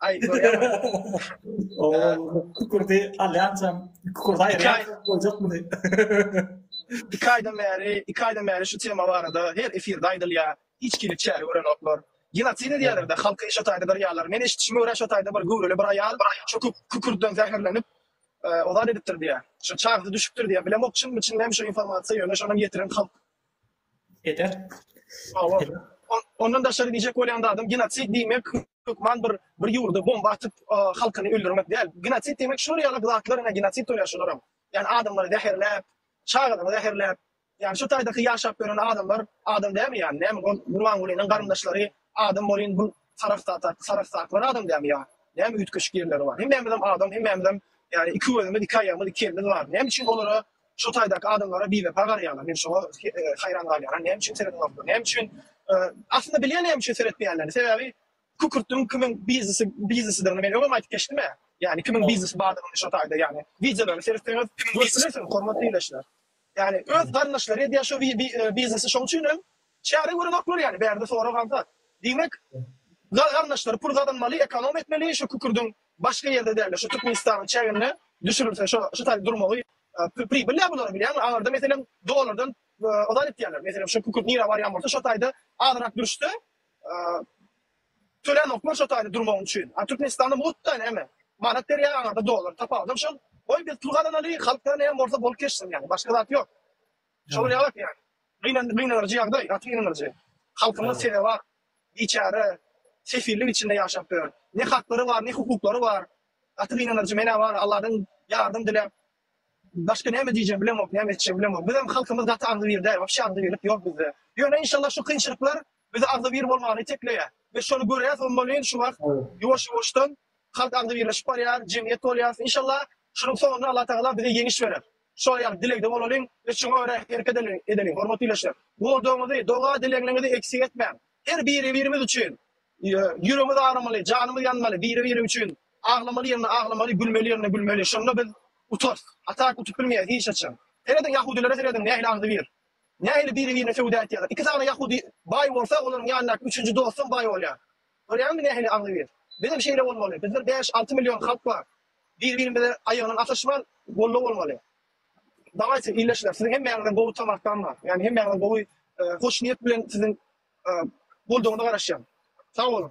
Aý, görýäňmi? O, kükürdi alýançam, kükürdi aýyrýançam boljak muny. Iki aýdan bäri, iki aýdan bäri şu tema barada her efirde aýdylýar, hiç kim hiç çäre görenoklar. Genotsid edýärler-de, halky eşet aýdadyrýarlar. Men eşitişime görä eşet aýda bir göwreli bir aýal şu kükürdiden zäherlenip, o zat edipdir diýýär. Şu çagasy düşüpdir diýýär. Bilemok çynmy, çyn dälmi şu informasiýa, ýöne şonam ýetiren halk. eder. Hawa. Ondan daşary diýjek bolýan zadym, genosid diýmek hökman bir bir ýurda bomba atyp, halkyny öldürmek däl. Genosid diýmek şular ýaly zatlaryna genosid bolýar şularam. Ýani adamlary zäherläp, çagalary zäherläp, ýani şu taýdaky ýaşap ýören adamlar adam dälmi ýani? Näme ol Gurbangulynyň garyndaşlary adam bolyn bu sarahsatak sarahsaklar adam dälmi ýa? Näme üýtgeşik ýerleri bar? Hemmämizem adam, hemmämizem ýani iki gözümiz, iki aýagymyz, iki elimiz bar. Näme üçin olara Şu taýdaky adamlara biwepa garaýarlar. Men şoňa haýran galýaran. Näme üçin seredenoklar? Näme üçin? Aslynda bilýän näme üçin seretmeýänlerini. Sebäbi kükürtüň kimiň biznesi biznesidigini men öňem aýdyp geçdim-ä. Ýagny kimiň biznesi bardygyny şo taýda ýagny wideolaryny seretseňiz görüpbilesiňiz hormatly ildeşler. Ýagny öz garyndaşlary edýär şo biznesi şoň üçin hem çäre görenoklar ýagny bärde sorag aňsat. Diýmek garyndaşlary pul gazanmaly ekonom etmeli şo kükürdiň Başga ýerde dälde şu Türkmenistanyň çäginde düşürilse şo şu taýda durmagy pribilnä bolar bilýäňmi aňarda meselem dollardan ozal etýärler meselem şu kükürt nirä barýan bolsa şo taýda azyrak durşda tölänoklar şo taýda durmagyň üçin a Türkmenistanda mutda näme manat berýär aňarda dollar tapawudam şol goý biz pul gazanaly halk näme bolsa bolup geçsin ýaňy başga zat ýok. Şol ne bak yani. Gıynan, gıynanırcı yagday, gaty gıynanırcı. Halkymyz size bak, biçare, sefillik içinde yaşap ýör. Ne hakları var, ne hukuklary var. Gaty gıynanırcı, menä var, Allahdan yardım dilep, başka näme diýjegimi bilemok, näme etjegimi bilemok. Bizem halkymyz gaty agzybir däl, wapşe agzybirlik ýok bizde. Ýöne inşallah şu kynçylyklar Biz agzybir bolmagyny itekleýär we şony görýäs hommolin şu wagt ýuwaş ýuwaşdan halk agzybirleşip barýar jemgyýet bolýas inşallah şunuň soňunda Allah tagala bize ýeňiş berer şol ýaly dilegde bolalyň we şuňa görä hereket edeliň hormatly ileşler goldawyňyzy doga dilegniňizi eksik etmäň her biri birimiz üçin ýüregimiz aramaly janymyz ýanmaly biri biri üçin aglamaly ýerinde aglamaly gülmeli ýerinde gülmeli şonda biz utarys atak utup bilmeýäs hiç haçan serediň ýahudilere serediň nähili agzybir Nähili biri-birine söwda etýärler? Iki sany ýahudy baý bolsa, olaryň ýanyndaky üçünji dostam baý bolýar. Görýäňmi nähili agzybir? Bizem şeýle bolmaly. Bizde bäş-alty million halk bar. Bir-birimize aýagyndan ataşman, goldaw bolmaly. Dawaýçy, ildeşler, siziň hemmäňizden gowy tamakdan bar. Ýagny hemmäňizden gowy hoşniýet bilen siziň goldawyňyza garaşýan. Sag boluň.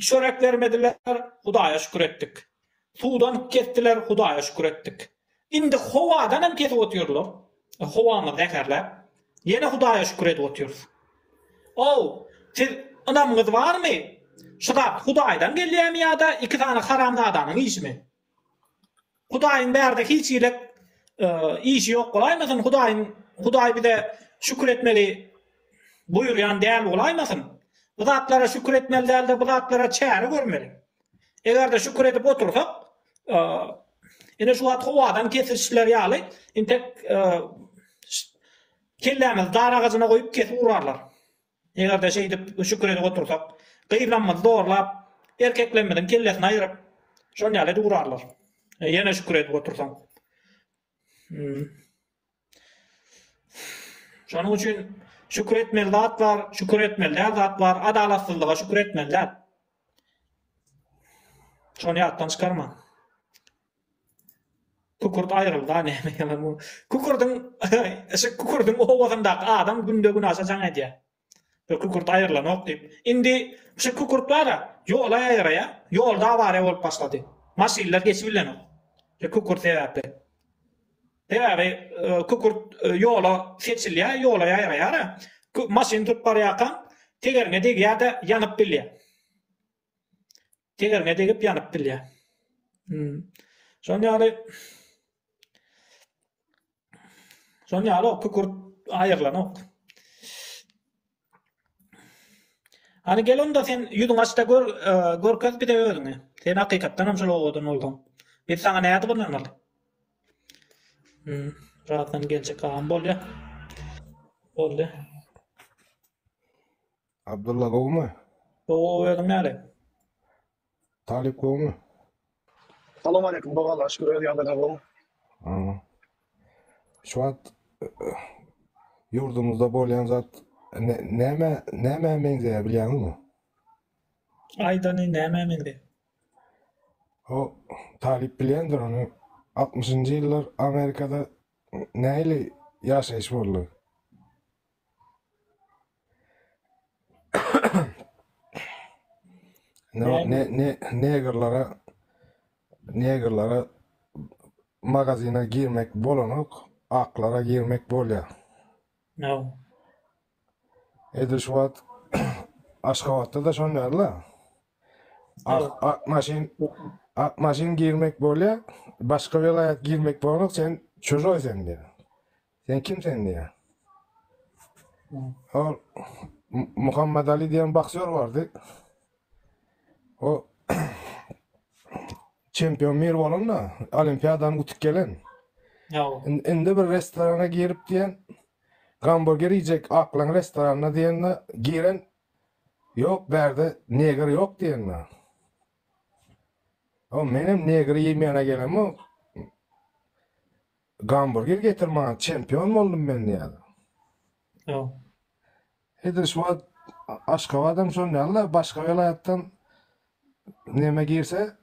Çörek bermediler, Hudaýa şükür etdik. Suwdan kesdiler, Hudaýa şükür etdik. Indi howadan hem kesip otyrlar. Howamyz zäherläp, ýene Hudaýa şükür edip otyrys. Ow, siz ynamyňyz barmy? Şu zat Hudaýdan gelýärmi ýa-da iki sany haramzadanyň işimi? Hudaýyň bärde hiç girek işi ýok bolaýmasyn, Hudaýyň Hudaý bize şükür etmegi buýurýan däl bolaýmasyn? Bu zatlara şükür etmeli däl-de, bu zatlara çäre görmeli. Eger-de şükür edip otursak, ine şu wagt howadan kesişler ýaly, entek kellämizi dar agajyna goýup kesip urarlar. Eger-de şeýdip öşük edip otursak, gyzlarymyzy zorlap, erkeklerimiziň kellesini aýryp, şol ýaly edip urarlar. Ýene şükür edip otursaň. Şonuň üçin şükür etmeli zat bar, şükür etmeli däl zat bar. Adalatsyzlyga şükür etmeli däl. Şony ýatdan çykarma. Kükürt aýrylda näme ýalan bu. Kükürdiň şu kükürdiň owazyndaky adam günde günaşa jaň edýä. Şu kükürt aýrylanok diýip. Indi şu kükürt bara ýola ýaýraýa. Ýolda awariýa bolup başlady. Maşynlar geçibilenok. Şu kükürt sebäpli. Sebäbi kükürt ýola seçilýä, ýola ýaýraýara. Maşyn tutup barýarkaň tegeriňe degýä-de ýanyp bilýä. Tegeriňe degip ýanyp bilýär. Hmm. Şonuň ýaly Şonuň ýaly ok, kükürt aýyrlanok. Hani gel onda sen ýüzüň açda gör, e, görkez bize özüňi. Sen hakykatdan hem şol owadan bolduň. Biz sana näde gynanmaly? Hmm, rahatdan geljek agam bolýa. Boldy. Abdylla gowmy? Gowy gowy özüň näle? Talyp gowmy? Salam aleýkum gowy Allaha şükür öz ýagdaýlaň gowmy? Aha. Şu wagt ýurdumyzda bolýan zat ne- näme nämä meňzeýär bilýäňizmi? Aýdany nämä meňzeýär? O Talyp bilýändir ony. 60-njy ýyllar Amerikada nähili ýaşaýyş boldy? Ne, ne, ne, negerlere negerlere magazine girmek bolanok, aklara girmek bolýar. No. Edil şu wagt Aşgabatda da şonýarla. Ak, ak maşyn, ak maşyn girmek bolýar, başga welaýat girmek bolanok, sen çujoý sen diýýär. Sen kimsen diýýär. Ol Muhammet Ali diýen boksýor bardy. O çempion mir bolanda, olimpiadany utup gelen. Indi bir restorana girip diýen, gamburger iýjek aklaň restoranyna diýende, giren Ýok, bärde neger ýok diýende. O menem negri iýmäne gelemok. Gamburger getir maňa çempion boldum men diýýär. Ýa. Edil şu wagt Aşgabadam şon ýaly-da başga welaýatdan neme girse,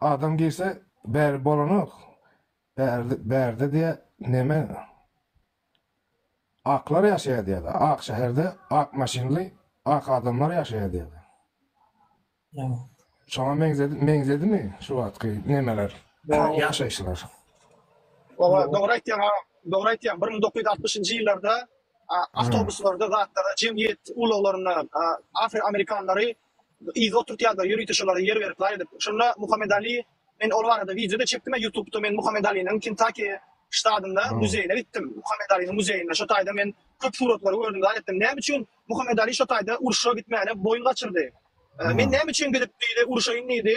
adam girse bäri bolanok. Bärde bärde diýe neme aklar ýaşaýar diýýär. Ak şäherde ak maşynly ak adamlar ýaşaýar diýýär. Şoňa meňzedi, meňzedimi şu wagtky nemeler, Dogry. ýaşaýyşlar? Oba, dogry aýtýaň, a, dogry aýtýaň. Bir müň dokuz ýüz altmyşynjy ýyllarda a, awtobuslarda, zatlarda, jemgyýet ulaglarynda a, afroamerikanlary yza oturtýardylar, ýörite şolara ýer berip laý edip. Şonda Muhammed Ali, men ol barada wideo-da çekdim, a, YouTube-da men Muhammed Aliniň Kentaki ştatynda Hı. muzeýine gitdim. Muhammed Aliniň muzeýinde. Şo taýda men köp suratlary gördüm, laý etdim. Näme üçin Muhammet Ali şo taýda urşa gitmäne boýun gaçyrdy. Men näme üçin gidip diýdi, urşaýyn diýdi.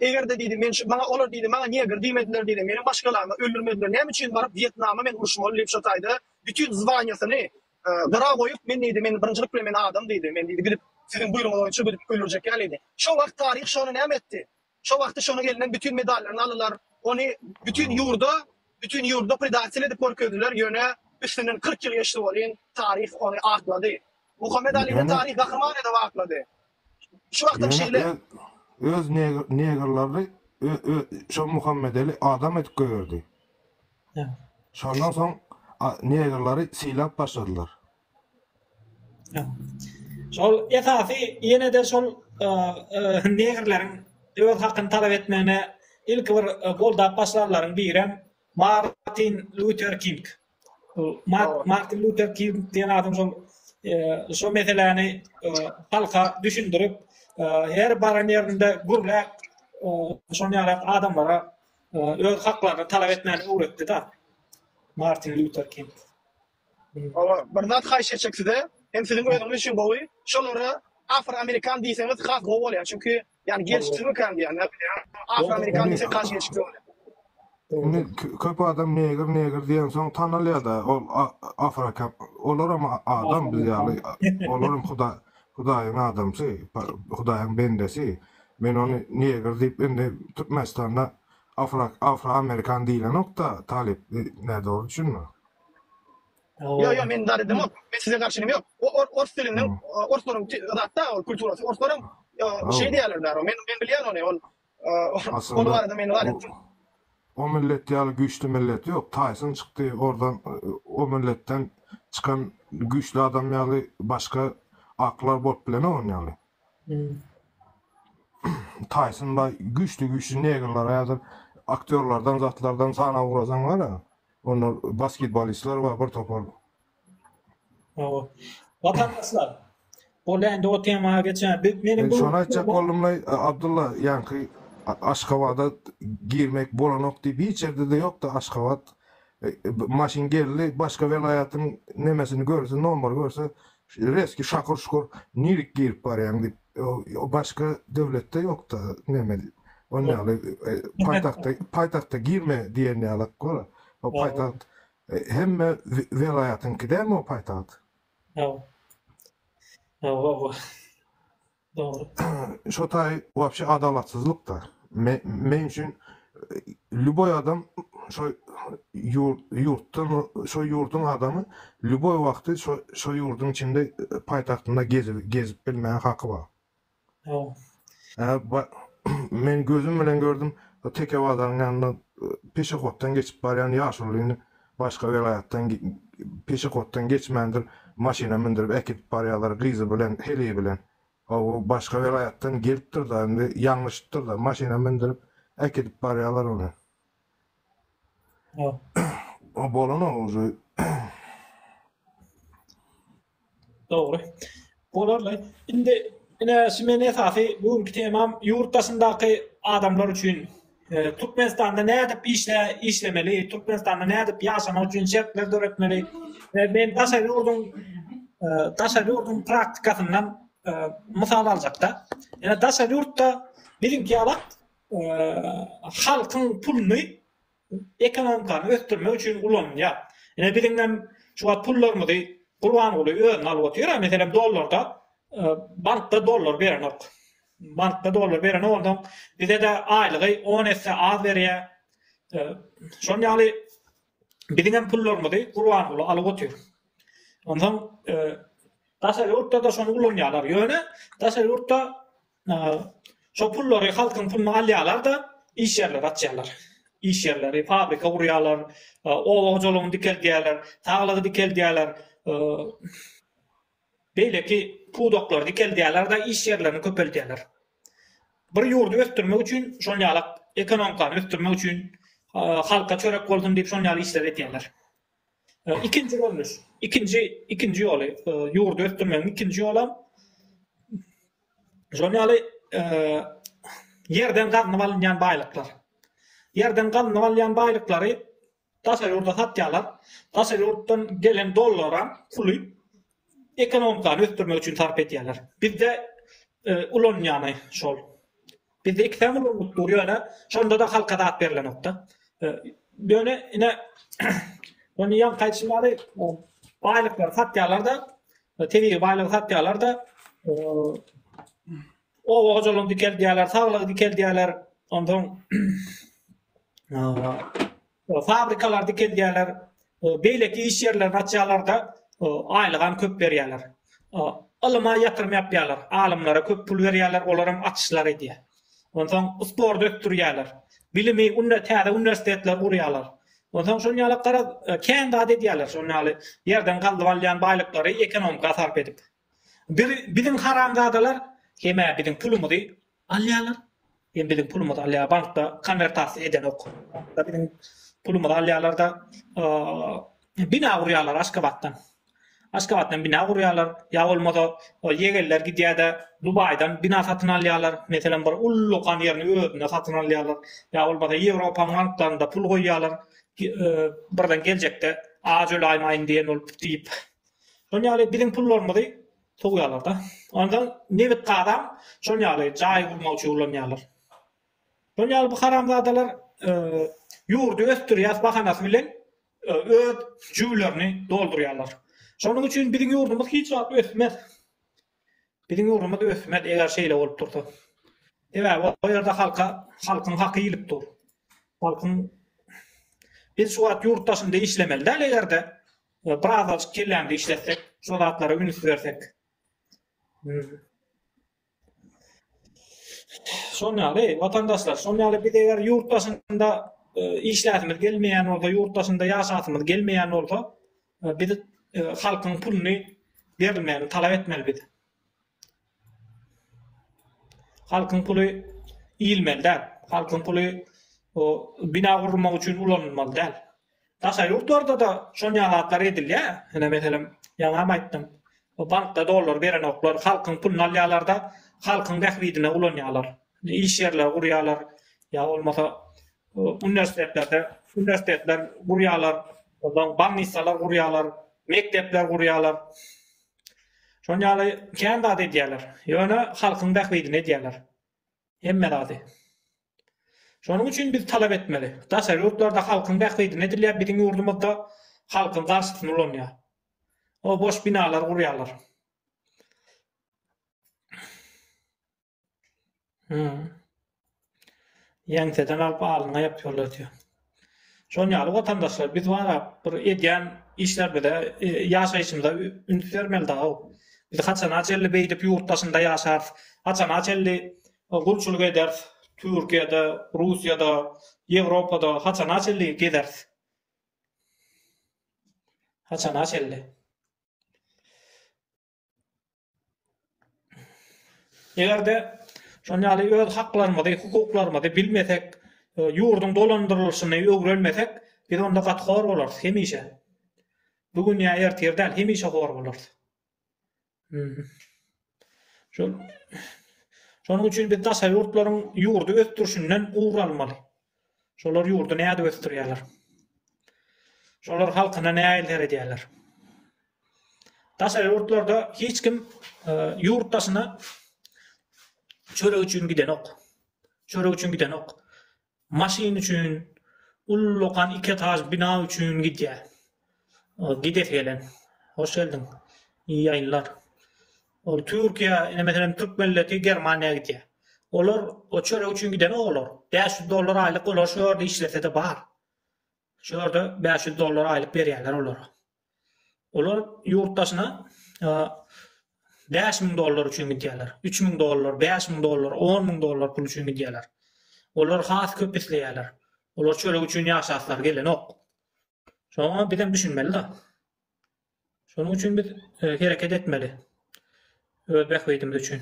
Eger-de diýdi, men şu maňa olar diýdi, maňa neger diýmediler diýdi. Meni başgalaryny öldürmediler. Näme üçin baryp Wýetnama men uruşmaly diýip şo taýda bütin zwanýasyny gyra goýup, men diýdi, men birinjilik bilen men adam diýdi. Men diýdi, gidip siziň buýrugyňyz boýunça gidip öldürjek ýaly diýdi. Şo wagt taryh şony näme etdi? Şo wagty şonuň elinden bütin medallaryny alylar, ony bütin ýurda, bütin ýurda predatel edip görkezdiler, ýöne üstünden kyrk ýyl geçdi welin, taryh ony aklady. Muhammet Alini taryh gahryman edip aklady. Şu wagtam şeýle. Ýöne öz negrlerini şo Muhammedeli adam edip goýberdi. Şondan soň negrleri sylap başladylar. Şol esasy ýene-de şol negrleriň öz hakyny talap etmegine ilki bir goldap başlanlaryň birem Martin Lýuter King. Martin Lýuter King diýen adam şol şo meseläni halka düşündirip, her baran ýerinde gürläp, şonuň ýaly adamlara öz haklaryny talap etmäni öwretdi-de Martin Lýuter King. Hawa, bir zat haýyş etjek size, hem siziň özüňiz üçin gowy, şolara afroamerikan diýseňiz has gowy bolýar, çünki ýagny gelşiksizmikan diýýär, näbilýän, afroamerikan diýseň has gelşikli bolýar. Indi köp adam negr negr diýensoň tanalýada ol afroka olaram adam biz ýaly olaram huda hudaýyň adamsy hudaýyň bendesi men ony negr diýip indi türkmenistanda afro afroamerikan diýlenokda talyp nädogry düşünme. Ýok ýok men zat edemok. Men size garşy neme ýok. O ors diliniň orslaryň zatda ol kulturasy. Orslaryň şey diýerler bäri. Men men bilýän ony. Ol ol barada men zat etdim. O millet ýaly güýçli millet ýok. Taýson çykdy ordan o milletden çykan güýçli adam ýaly başga aklar bolup bilenok onuň ýaly. Taýson baý güýçli güýçli negrler häzir aktýorlardan zatlardan sana ugrasaň bar-a. Onda basketbolistler bar bir topar. Hawa. Watandaşlar, boldy indi o temaga geçäýeris. Biz meniň bu Men şony aýtjak boldumlaý, Abdylla, ýaňky Aşgabada girmek bolanok diýip hiç ýerde-de ýok-da Aşgabat maşyn geldi, başga welaýatyň nemesini görse, nomary görse, reski şakur-şukur nirik girip barýaň diýip. O başga döwletde ýokda neme on ýaly paýtagtda paýtagtda girme diýen ýaly gol o paýtagt hemme welaýatyňky dälmi o paýtagt? Ýok. Ýok. Dogry. Şo taý wapşe adalatsyzlykda. Men üçin Lýuboý adam şo ýurtda şo ýurduň adamy lýuboý wagty şo şo ýurduň içinde paýtagtynda gezip gezip bilmäge haky bar. Hawa. Men gözüm bilen gördüm teke bazaryň ýanynda peşehoddan geçip barýan ýaşulyny başga welaýatdan peşehoddan geçmändir maşyna mündürip äkidip barýalar gyzy bilen heleý bilen Hawa, başga welaýatdan gelipdir-da, indi ýalňyşypdyr-da, maşyna mündürip, äkidip barýarlar ony. O bolan-ow uju. Dogry. Bolarly. Indi, ine, şu meniň esasy bu günki temam ýurt daşyndaky adamlar üçin Türkmenistanda nädip işle işlemeli, Türkmenistanda nädip ýaşamak üçin şertler döretmeli? Men daşary ýurduň daşary ýurduň praktikasyndan mysal aljakda, ýa daşary ýurtda biziňki ýaly halkyň puluny ekonomikany ösdürmek üçin ulanylýar. Ýa biziň hem şu wagt pullarymyzy Gurbanguly özüne alyp otyr, meselem dollarda bankda dollar berenok. Bankda dollar bereni bolsaň bizede aýlygy on esse az berýä şon ýaly biziňem pullarymyzy gurbanguly alyp otyr onsoň daşary ýurtda-da şony ulanýarlar ýöne daşary ýurtda şo pullary halkyň puluny alýarlar-da iş ýerleri açýarlar iş ýerleri fabrika gurýarlar oba hojalygyny dikeldýärler saglygy dikeldýärler beýleki pudaklary dikeldýärler-de, iş ýerlerini köpeldýärler. Bir ýurdy ösdürmek üçin şol ýaly ekonomikany ösdürmek üçin halka çörek bolsun diýip şol ýaly işleri edýärler. Ikinji görnüş, ikinji ikinji ýoly, ýurdy ösdürmegiň ikinji ýolam şol ýaly ýerden gazynyp alynýan baýlyklar. Ýerden gazynyp alýan baýlyklary Daşary ýurda satýarlar. Daşary ýurtdan gelen dollaram puly ekonomikany ösdürmek üçin sarp edýärler. Bizde ulanýany şol. Bizde iki säm ulanylýp dur ýöne şonda-da halka zat berlenokda. Ýöne ine ony ýaňky aýdyşym ýaly baýlyklary satýarlar-da, tebigy baýlygy satýarlar-da, Oba hojalygyny dikeldýärler, saglygy dikeldýärler, onsoň fabrikalary dikeldýärler, beýleki iş ýerlerini açýarlar-da, aýlygam köp berýärler. Ylyma ýatyrym ýapýarlar, alymlara köp pul berýärler, olaram açyşlar edýär. Onsoň sporty ösdürýärler, bilimi täze uniwersitetler gurýarlar. Onsoň şonuň ýaly garaz, kän zat edýärler, şonuň ýaly ýerden gazyp alýan baýlyklary ekonomika sarp edip. Bir biziň haramzadalar hemä biziň pulumyzy alýalar hem biziň pulumyzy alýar bankda konwertasiýa edenok bankda biziň pulumyzy alýalarda bina gurýalar aşgabatdan aşgabatdan bina gurýalar ýa bolmasa ýegenler gidýärde dubaýdan bina satyn alýalar meselem bir ullukan ýerini özüne satyn alýalar ýa bolmasa ýewropa banklarynda pul goýýalar birden geljekde aç öläýmäýin diýen bolup diýip Şol ýaly biziň pullarymyzy sowýarlar-da. Onsoň nebit-gazam şol ýaly jaý gurmak üçin ulanýarlar. Şol ýaly bu haramzadalar ýurdy ösdürýäs bahanasy bilen öz jübülerini doldurýarlar. Şonuň üçin biziň ýurdumyz hiç wagt ösmez. Biziň ýurdumyz ösmez eger şeýle bolup dursa. Sebäbi o ýerde halka, halkyň haky iýilip dur. Halkyň Biz şu wagt ýurt daşynda işlemeli däl eger-de Birazajyk kellämde işletsek, şo zatlara üns bersek. Şol ýaly, watandaşlar, şol ýaly biz eger ýurt daşynda e, işläsimiz gelmeýän bolsa, ýurt daşynda ýaşasymyz gelmeýän bolsa, e, biz e, halkyň puluny berilmegini talap etmeli biz. Halkyň puly iýilmeli däl. Halkyň puly o bina gurmak üçin ulanylmaly däl. Daşary ýurtlarda-da şol ýaly zatlar edilýär. Ine, meselem, ýaňam aýtdym. Bu bankda dollar berenoklar, halkyň puluny alýarlar-da, halkyň bähbidine ulanýarlar. Iş ýerleri gurýarlar, ýa bolmasa uniwersitetlerde, uniwersitetler gurýarlar, onsoň bolnissalar gurýarlar, mekdepler gurýarlar. Şoň ýaly kän zat edýärler. Ýöne halkyň bähbidine edýärler. Hemme zady. Şonuň üçin biz talap etmeli. Daşary ýurtlarda halkyň bähbidine edilýär, biziň ýurdumyzda halkyň garşysyna ulanýar. O boş binalar gurýarlar. Ýeňseden alyp alnyňa ýapýarlar diýýär. Şonuň ýaly watandaşlar biz bara bir edýän işlerimize ýaşaýşymyza üns bermeli dagy. Biz haçana çenli beýdip ýurt daşynda ýaşarys, haçana çenli gulçulyk ederis, Türkiýede, Russiýada, Ýewropada haçana çenli gezeris. Haçana çenli. Eger-de şon ýaly öz haklarymyzy, hukuklarymyzy bilmesek, e, ýurduň dolandyrylyşyny öwrenmesek, biz onda gaty hor bolarys hemişe. Bu gün ýa ertir däl, hemişe hor bolarys. Hmm. Şol Şonuň üçin biz daşary ýurtlaryň ýurdy ösdürişinden ugur almaly. Şolar ýurdy nädip ösdürýärler? Şolar halkyna nähili seredýärler? Daşary ýurtlarda hiç kim e, ýurt daşyna çörek üçin gidenok. Çörek üçin gidenok. Maşyn üçin, ullakan iki etaž bina üçin gidýär. Gidesi gelen. Hoş geldiň. İyi ýaýynlar. Ol Türkiýä ine meselem türk melleti Germaniýa gidýä. Olar o çörek üçin gidenok olar. Bäş ýüz dollar aýlyk olar şu ýerde işlesede bar. Şu ýerde bäş ýüz dollar aýlyk berýärler olara. Olar ýurt daşyna bäş müň dollar üçin gidýärler. Üç müň dollar, bäş müň dollar, on müň dollar pul üçin gidýärler. Olar has köp isleýärler. Olar çörek üçin ýaşaslar gelenok. Şoňa bizem düşünmeli da. Şonuň üçin biz e, hereket etmeli. Öz bähbidimiz üçin.